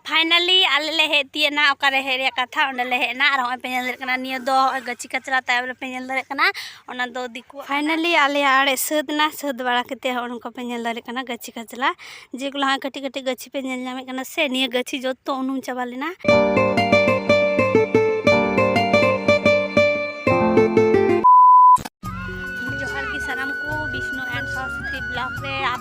finally ᱟᱞᱮ ᱞᱮ ᱦᱮᱡ ᱛᱤᱭᱮᱱᱟ ᱚᱠᱟᱨᱮ ᱦᱮᱡ ᱨᱮᱭᱟᱜ ᱠᱟᱛᱷᱟ ᱚᱸᱰᱮ ᱞᱮ ᱦᱮᱡ ᱮᱱᱟ ᱟᱨ ᱦᱚᱸᱜᱼᱚᱭ ᱯᱮ ᱧᱮᱞ ᱫᱟᱲᱮᱭᱟᱜ ᱠᱟᱱᱟ ᱱᱤᱭᱟᱹ ᱫᱚ ᱦᱚᱸᱜᱼᱚᱭ ᱜᱟᱹᱪᱷᱤ ᱠᱟᱪᱨᱟ ᱛᱟᱭᱚᱢ ᱨᱮᱯᱮ ᱧᱮᱞ ᱫᱟᱲᱮᱭᱟᱜ ᱠᱟᱱᱟ ᱚᱱᱟ ᱫᱚ ᱫᱤᱠᱩ ᱯᱷᱟᱭᱱᱟᱞᱤ ᱟᱞᱮᱭᱟᱜ ᱟᱲᱮ ᱥᱟᱹᱛ ᱮᱱᱟ ᱥᱟᱹᱛ ᱵᱟᱲᱟ ᱠᱟᱛᱮ ᱦᱚᱸᱜᱼᱚ ᱱᱚᱝᱠᱟ ᱯᱮ ᱧᱮᱞ ᱫᱟᱲᱮᱭᱟᱜ ᱠᱟᱱᱟ ᱜᱟᱹᱪᱷᱤ ᱠᱟᱪᱨᱟ ᱡᱮᱜᱩᱞᱟ ᱦᱚᱸᱜᱼᱚᱭ ᱠᱟᱹᱴᱤᱡ ᱠᱟᱹᱴᱤᱡ ᱜᱟᱹᱪᱷᱤ ᱯᱮ ᱧᱮᱞ ᱧᱟᱢᱮᱫ ᱠᱟᱱᱟ ᱥᱮ ᱱᱤᱭᱟᱹ ᱜᱟᱹᱪᱷᱤ ᱡᱚᱛᱚ ᱩᱱᱩᱢ ᱪᱟᱵᱟ ᱞᱮᱱᱟ ᱡᱚᱦᱟᱨ ᱜᱮ ᱥᱟᱱᱟᱢ ᱠᱚ ᱵᱤᱥᱱᱩ ᱮᱱᱰ ᱥᱚᱨᱚᱥᱚᱛᱤ ᱵᱞᱚᱜ ᱨᱮ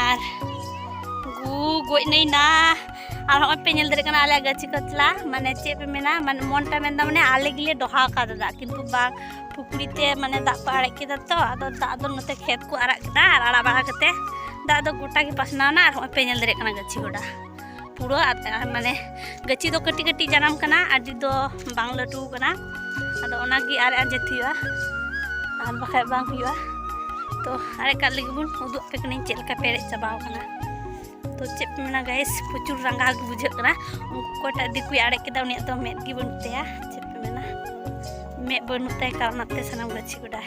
ᱟᱨ ᱜᱩ ᱜᱚᱡ ᱱᱟᱹᱭ ᱱᱟ ᱟᱨ ᱦᱚᱸᱜᱼᱚᱭ ᱯᱮ ᱧᱮᱞ ᱫᱟᱲᱮᱭᱟᱜ ᱠᱟᱱᱟ ᱟᱞᱮᱭᱟᱜ ᱜᱟᱹᱪᱷᱤ ᱠᱟᱛᱞᱟ ᱢᱟᱱᱮ ᱪᱮᱫ ᱯᱮ ᱢᱮᱱᱟ ᱢᱟᱱᱮ ᱢᱚᱱᱴᱟ ᱢᱮᱱᱫᱟ ᱢᱟᱱᱮ ᱟᱞᱮ ᱜᱮᱞᱮ ᱰᱚᱦᱟ ᱟᱠᱟᱫᱟ ᱫᱟᱜ ᱠᱤᱱᱛᱩ ᱵᱟᱝ ᱯᱩᱠᱷᱨᱤ ᱛᱮ ᱢᱟᱱᱮ ᱫᱟᱜ ᱠᱚ ᱟᱲᱟᱜ ᱠᱮᱫᱟ ᱛᱚ ᱟᱫᱚ ᱫᱟᱜ ᱫᱚ ᱱᱚᱛᱮ ᱠᱷᱮᱛ ᱠᱚ ᱟᱲᱟᱜ ᱠᱮᱫᱟ ᱟᱨ ᱟᱲᱟᱜ ᱵᱟᱲᱟ ᱠᱟᱛᱮ ᱫᱟᱜ ᱫᱚ ᱜᱚᱴᱟ ᱜᱮ ᱯᱟᱥᱱᱟᱣ ᱮᱱᱟ ᱟᱨ ᱦᱚᱸᱜᱼᱚᱭ ᱯᱮ ᱧᱮᱞ ᱫᱟᱲᱮᱭᱟᱜ ᱠᱟᱱᱟ ᱜᱟᱹᱪᱷᱤ ᱜᱚᱰᱟ ᱯᱩᱨᱟᱹ ᱢᱟᱱᱮ ᱜᱟᱹᱪᱷᱤ ᱫᱚ ᱠᱟᱹᱴᱤᱡ ᱠᱟᱹᱴᱤᱡ ᱡᱟᱱᱟᱢ ᱠᱟᱱᱟ ᱟᱹᱰᱤ ᱫᱚ ᱵᱟᱝ ᱞᱟᱹᱴᱩ ᱠᱟᱱᱟ ᱟᱫᱚ ᱚᱱᱟᱜᱮ ᱟᱨᱮ ᱟᱸᱡᱮᱫ ᱦᱩᱭᱩᱜᱼᱟ ᱟᱨ ᱵᱟᱠᱷᱟᱡ ᱵᱟᱝ ᱦᱩᱭᱩᱜᱼᱟ ᱛᱚ ᱟᱨᱮᱡ ᱠᱟᱜ ᱞᱟᱹᱜᱤᱫ ᱵᱚᱱ ᱩᱫᱩᱜ ᱟᱯᱮ ᱠᱟᱹᱱᱟᱹᱧ ᱪᱮᱫ ᱞᱮᱠᱟ ᱯᱮᱨᱮᱡ ᱪᱟᱵᱟᱣ ᱠᱟᱱᱟ ᱛᱚ ᱪᱮᱫ ᱯᱮ ᱢᱮᱱᱟ ᱜᱟᱭᱮᱥ ᱯᱨᱚᱪᱩᱨ ᱨᱟᱸᱜᱟᱣ ᱜᱮ ᱵᱩᱡᱷᱟᱹᱜ ᱠᱟᱱᱟ ᱩᱱᱠᱩ ᱚᱠᱚᱭᱴᱟᱜ ᱫᱤᱠᱩᱭ ᱟᱲᱮᱡ ᱠᱮᱫᱟ ᱩᱱᱤᱭᱟᱜ ᱫᱚ ᱢᱮᱫ ᱜᱮ ᱵᱟᱹᱱᱩᱜ ᱛᱟᱭᱟ ᱪᱮᱫ ᱯᱮ ᱢᱮᱱᱟ ᱢᱮᱫ ᱵᱟᱹᱱᱩᱜ ᱛᱟᱭ ᱠᱟᱨᱚᱱᱟᱜ ᱛᱮ ᱥᱟᱱᱟᱢ ᱜᱟᱹᱪᱷᱤ ᱜᱚᱰᱟᱭ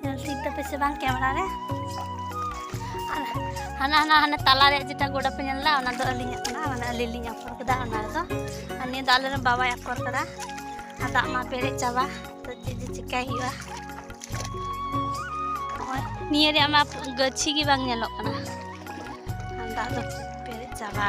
ᱧᱮᱞ ᱴᱷᱤᱠ ᱫᱟᱯᱮ ᱥᱮ ᱵᱟᱝ ᱠᱮᱢᱮᱨᱟ ᱨᱮ ᱟᱨ ᱦᱟᱱᱟ ᱦᱟᱱᱟ ᱦᱟᱱᱟ ᱛᱟᱞᱟ ᱨᱮ ᱡᱮᱴᱟ ᱜᱚᱰᱟ ᱯᱮ ᱧᱮᱞ ᱫᱟ ᱚᱱᱟ ᱫᱚ ᱟᱹᱞᱤᱧᱟᱜ ᱠᱟᱱᱟ ᱢᱟᱱᱮ ᱟᱹᱞᱤᱧ ᱞᱤᱧ ᱟᱠᱚᱨ ᱠᱮᱫᱟ ᱚᱱᱟ ᱨᱮᱫᱚ ᱟᱨ ᱱᱤᱭᱟᱹ ᱫᱚ ᱟᱞᱮᱨᱮᱱ ᱵᱟᱵᱟᱭ ᱟᱠᱚᱨ ᱠᱟᱫᱟ ᱟᱨ ᱫᱟᱜ ᱢᱟ ᱯᱮᱨᱮᱡ ᱪᱟᱵᱟ ᱛᱚ ᱪᱮᱫ ᱡᱮ ᱪᱤᱠᱟᱭ ᱦᱩᱭᱩᱜᱼᱟ ᱱᱚᱜᱼᱚᱭ ᱱᱤᱭᱟᱹ ᱨᱮᱭᱟᱜ ᱢᱟ ᱜᱟᱹᱪᱷᱤ ᱜᱮ ᱵᱟᱝ ᱧᱮᱞᱚᱜ ᱠᱟᱱᱟ ᱫᱟᱜ ᱫᱚ ᱯᱮᱨᱮᱡ ᱪᱟᱵᱟ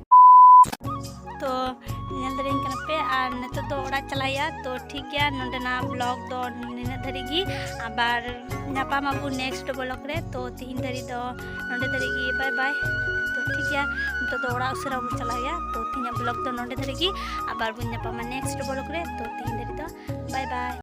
ᱛᱚ ᱧᱮᱞ ᱫᱟᱲᱮᱭᱟᱹᱧ ᱠᱟᱱᱟ ᱯᱮ ᱟᱨ ᱱᱤᱛᱚᱜ ᱫᱚ ᱚᱲᱟᱜ ᱪᱟᱞᱟᱜ ᱦᱩᱭᱩᱜᱼᱟ ᱛᱚ ᱴᱷᱤᱠ ᱜᱮᱭᱟ ᱱᱚᱸᱰᱮᱱᱟᱜ ᱵᱞᱚᱜ ᱫᱚ ᱱᱤᱱᱟᱹᱜ ᱫᱷᱟᱹᱨᱤᱡ ᱜᱮ ᱟᱵᱟᱨ ᱧᱟᱯᱟᱢ ᱟᱵᱚ ᱱᱮᱠᱥᱴ ᱵᱞᱚᱜ ᱨᱮ ᱛᱚ ᱛᱤᱦᱤᱧ ᱫᱷᱟᱹᱨᱤᱡ ᱫᱚ ᱱᱚᱸᱰᱮ ᱫᱷᱟᱹᱨᱤᱡ ᱜᱮ ᱵᱟᱭ ᱵᱟᱭ ᱛᱚ ᱴᱷᱤᱠ ᱜᱮᱭᱟ ᱱᱤᱛᱚᱜ ᱫᱚ ᱚᱲᱟᱜ ᱩᱥᱟᱹᱨᱟ ᱵᱚᱱ ᱪᱟᱞᱟᱜ ᱦᱩᱭᱩᱜᱼᱟ ᱛᱚ ᱛᱤᱦᱤᱧᱟᱜ ᱵᱞᱚᱜ ᱫᱚ ᱱᱚᱸᱰᱮ ᱫᱷᱟᱹᱨᱤᱡ ᱜᱮ ᱟᱵᱟᱨ ᱵᱚᱱ ᱧᱟᱯᱟᱢᱟ ᱱᱮᱠᱥᱴ ᱵᱞᱚᱜ ᱨᱮ ᱛᱚ ᱛᱤᱦᱤᱧ ᱫᱷᱟᱹᱨᱤᱡ ᱫᱚ ᱵᱟᱭ ᱵᱟᱭ